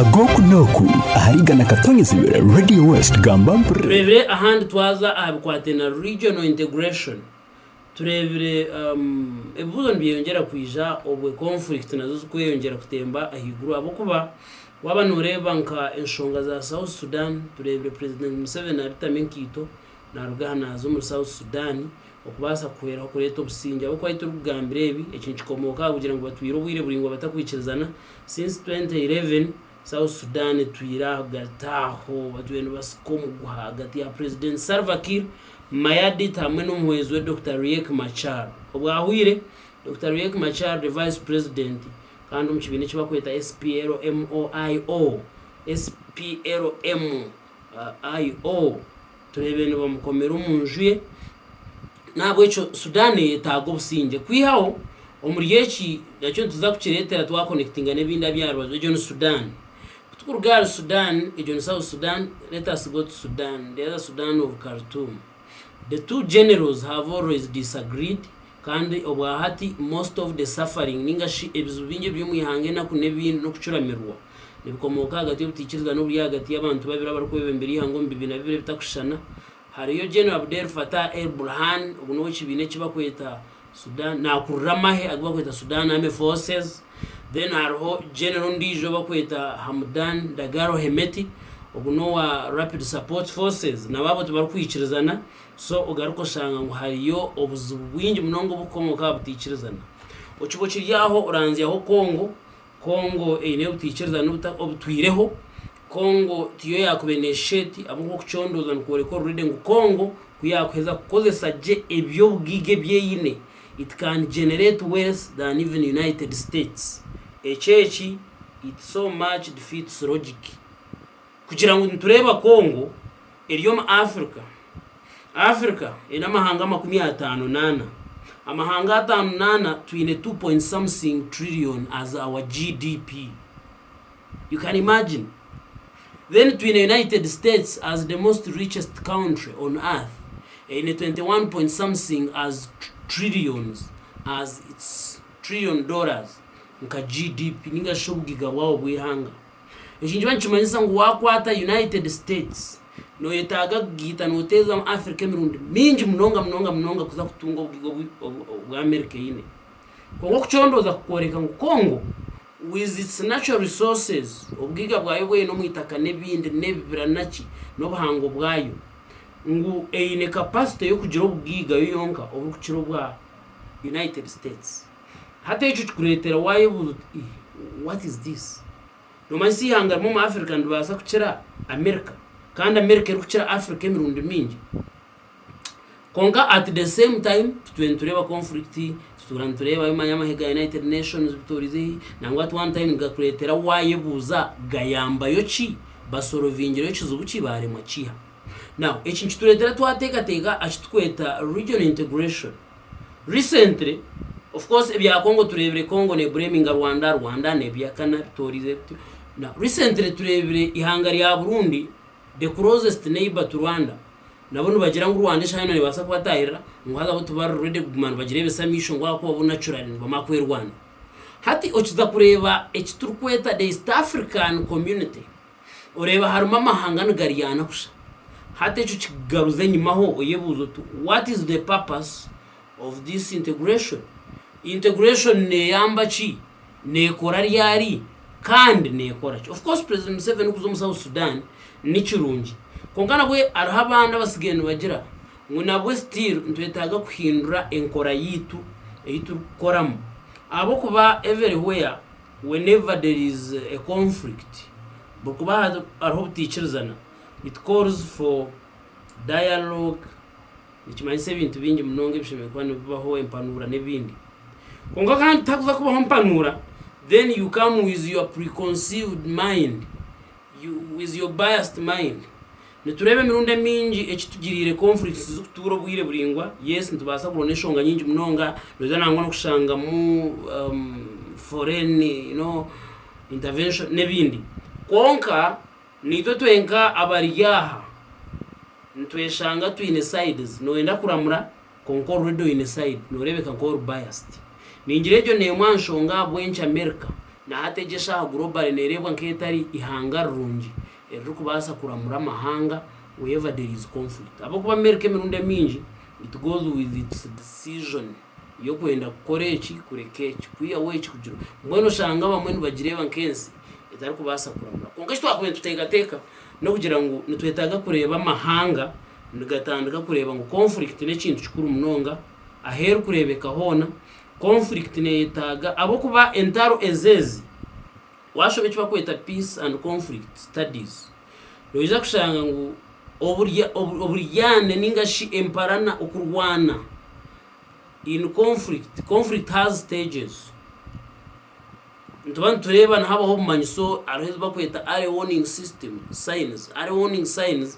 ag'oku n'oku ahari igana katonyezibwe Radio West gamba mpurire. Tureebire ahandi twaza aha bikwate na regional integration tureebire ebibuzo nibyeyongyera kwija obwe conflict nazo zikweyongyera kutemba ahaiguru ahabw'okuba waaba noreeba nka enshonga za south Sudan tureebire president Museveni aritamu enkaito naruga aha naaza omuri south Sudan Okubaasa kuhweraho kureeta obusingye ahabw'okuba ahi turikugambira ebi, eki nikikomooka aha kugira ngu batwire obwire buraingwa batakwikirizana. Since twenty eleven, South Sudan etwire ahagati aho batwire nibasika omuguha ahagati ya Purezidenti Salva Kiir Mayadit hamwe n'omuhwezi we Dokita Riek Machar. Obwahwire, Dokita Riek Machar the Vice President kandi omu kibiina eki barikweta SPLM-IO, SPLM-IO. Tureebe nibamukomera omu nju ye. N'ahabw'ekyo Sudan eyetaaga obusingye. Kwihaho omuri eki, nakyo nituza kukireetera twakonekitinga n'ebindi aby'aha rubaju. Egyo ni Sudan. Ku tukuruga ahari Sudan, egyo ni South Sudan, let us go to Sudan, the other Sudan of Khartoum. The two generals have always disagreed Kandi obwa hati most of the suffering ninga shi ebizibu bingi eby'omu ihanga enaku n'ebindi n'okucuramirwa nibikomooka ahagati y'obutaikiriza n'oburi ahagati y'abantu babiri abarikwebembera ihanga omu bibiina bibiri ebitakushushana hariyo General Abdel Fattah el Burhan ogu n'ow'ekibiina eki bakweta Sudan nakurira amahe agi bakweta Sudan Army Forces then hariho General ondijo obakweta Hamdan Dagalo Hemeti ogu n'owa Rapid Support Forces nabo abo tibarikwikirizana So ogaruke oshanga ngu hariyo obuzibu bwingi munonga obukukomoka aha butaikirizana. Okiba okiri aho oranzyaho Congo. Congo eine obutaikirizana obuta obutwireho. Congo tiyo yakubaire neeshusha eti ahabw'okuba okucondooza nikworeka already ngu Congo ku yaakuheza kukozesa gye eby'obugaiga ebi eine it can generate wealth than even United States. Ekyo eki it so much defeats logic. Kugira ngu nitureeba Congo eri omu Africa. Africa eine amahanga makumi ataano n'ana. Amahanga ataano n'ana twine two point something trillion as our GDP. You can imagine. Then twine United States as the most richest country on earth eine twenty one point something as trillions as its trillion dollars nka GDP ninga shi obugiga bwabo bw'eihanga. Eki nikiba nikimanyisa ngu waakwata United States, nooyetaaga kugiita nooteeza Africa emirundi mingi munonga munonga munonga kuza kutunga obugiga obu obu America eine. Kwonka okucondooza kukworeka ngu Congo with its natural resources, obugiga bwayo obu eine omu itaka n'ebindi n'ebibira naki n'obuhango bwayo, ngu eine capacity y'okugira obugiga yo yonka oburikukira obwa United States. Hati ekyo kikureetera waayebuuza oti, Ii, what is this? Noomanyisa eihanga rimwe omu Africa niribaasa kukira America, kandi America erikukira Africa emirundi mingi. Kwonka at the same time titwine nitureeba conflict, tituura nitureeba bi manya amahe ga United Nations bitoorize hi, nangwa at one time nigakureetera waayebuuza gayambayo ki? Basorovingire yo kizibu ki? Baaremwa kiiha? Now eki nikitureetera twateekateeka aha ki turikweta regional integration. Recently of course ebya Congo turebire Congo ne blaminga Rwanda, Rwanda nebyakana bitorize bityo. Now recently turebire ihanga rya Burundi the closest neighbor to Rwanda nabo nibagira ngu Rwanda eshaha yoona nebasa kubatahirira ngu haza bo tibari ready kuguma nibagira ebisamisho ngu ahakuba bo naturally nibamara kwerwanira. Hati okiza kureba ekiturikweta the East African community Oreeba harimu amahanga nigaryana kusha. Hati ekyo kikugaruza enyimaho oyebuuze oti what is the purpose of this integration? Integration neyamba ki? Nekora ryari? Kandi nekora ki? Of course President Museveni kuza omu South Sudan nikirungi kwonka nabwe hariho abandi abatsigaire nibagira ngu nabwe still nitwetaaga kuhindura enkora yaitu ei turikukoramu ahabw'okuba everywhere Whenever there is a conflict, buri kuba hariho obutaikirizana, it calls for dialogue, nikimanyisa ebintu bingi munonga ebishemereire kuba nibibaho, empanuura n'ebindi. Kwonka kandi tihakuza kubaho mpanuura then you come with your preconceived mind, with your biased mind, Nitureeba emirundi emiingi eki tugiriire konfurikiisi zikutuura obwire buraingwa. Yes, nitubaasa kuronda enshonga nyingi munonga, noija nangwa n'okushangamu foreign you know intervention n'ebindi. Kwonka niitwe twenka abari aha nitweshanga twine sides. Nooyenda kuramura kwonka already oine side, nooreebeka nk'ori biased. Ningira egyo n'emwe aha nshonga ahabw'enki America na hati egi eshaaha globally neereebwa nk'etari eihanga rirungi. Eririkubaasa kuramura amahanga wherever there is conflict ahabw'okuba Amerika emirundi emiingi it goes with its decision y'okwenda kukora eki kureka eki, kwihaho eki kugira oku. Mbwenu oshanga abamwe nibagireeba nk'ensi etarikubaasa kuramura. Kwonka eki twakubaire nituteekateeka n'okugira ngu nitwetaaga kureeba amahanga nigatandika kureeba ngu conflict n'ekintu kikuru munonga ahu erikureebeka hoona. Conflict neeyetaaga ahabw'okuba entaro ezeezi Waashoma eki barikweta Peace and Conflict Studies, noija kushanga ngu oburyane nainga shi emparana, okurwana, in conflict, conflict has stages. Nituba nitureeba nihabaho obumanyiso, hariho ebi barikweta early warning system, signs. Early warning signs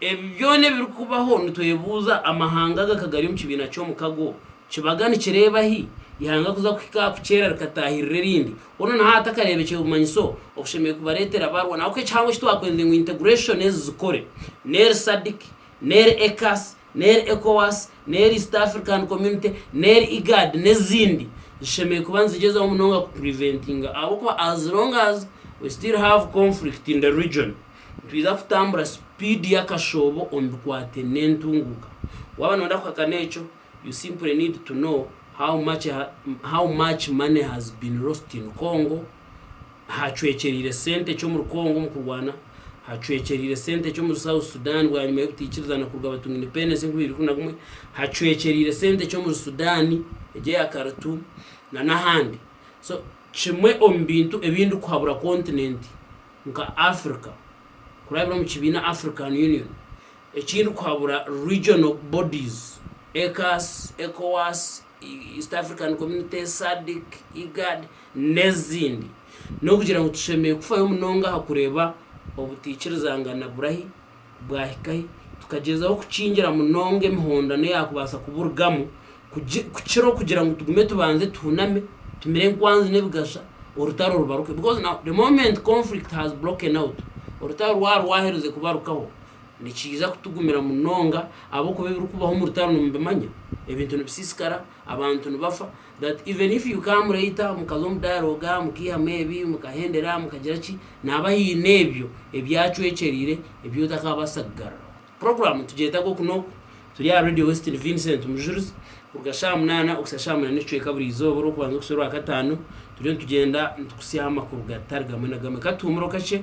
Ebi byona ebirikubaho nitwebuuza, amahanga aga ka gari omu kibiina ky'omukago, kibaga nikireeba hi? Ihanga kuza kuhika aha kukyera rikataahirira erindi, hoona na hati akareebekye bumanyiso obushemereire kubareetera barwa. N'ahabw'oku ekihango eki twakwenze ngu integration ezi zikore, n'eri SADC, n'eri ECAS, n'eri ECOWAS, n'eri East African Community, n'eri IGAD n'ezindi, zishemereire kuba nizigyezaho munonga ku preventinga ahabw'okuba as long as we still have conflict in the region, Nitwiza kutambura sipiidi y'akashoobo omu bikwate n'entunguuka. Waaba nooyenda kuhakana ekyo, you simply need to know how much how much money has been lost in Congo, hacwekyereire sente ki omuri Congo omu kurwana, hacwekyereire sente ki omuri South Sudan bwanyima y'obutaikirizana kuruga batunga independence enkumi ibiri ikumi na gumwe, hacwekyereire sente ki omuri Sudan egi eya Khartoum na n'ahandi. So kimwe omu bintu ebi ndikuhabura kontinenti nka Africa kurabira omu kibiina African Union ekindi kuhabura regional bodies, ECAS, Ecowas, East African Community, SADC, IGAD n'ezindi n'okugira ngu tushemereire kufayo munonga aha kureba obutaikirizangana burahi Bwahikahi tukagyezaho kukingira munonga emihondano eyaakubaasa kuburugamu, kukira okugira ngu tugume tubanze tuhuname, tumire enkwanzi n'ebigasha, orutaro rubaruke. Because now the moment conflict has broken out, orutaro rwaba rwaherize kubarukaho, nikiija kutugumira munonga ahabw'okuba ebirikubaho omu rutaro nimubimanya, ebintu nibisiisikara, abantu nibafa, That even if you come later mukaza omu dialogue mukaihamu ebi mukahendera mukagira ki nihaba haine ebyo ebyacwekyereire ebi otakabaasa kugaruraho. Program nitugyetaga oku n'oku. Turi aha Radio Western Vincent Mujurizi kuruga shaaha munaana okuhitsya shaaha munaana n'ekicweka buri izooba orw'okubanza okuhitsya orwakataano turiyo nitugyenda nitukutsyaho amakuru gatari gamwe na gamwe. Ka tuhumureho kakye.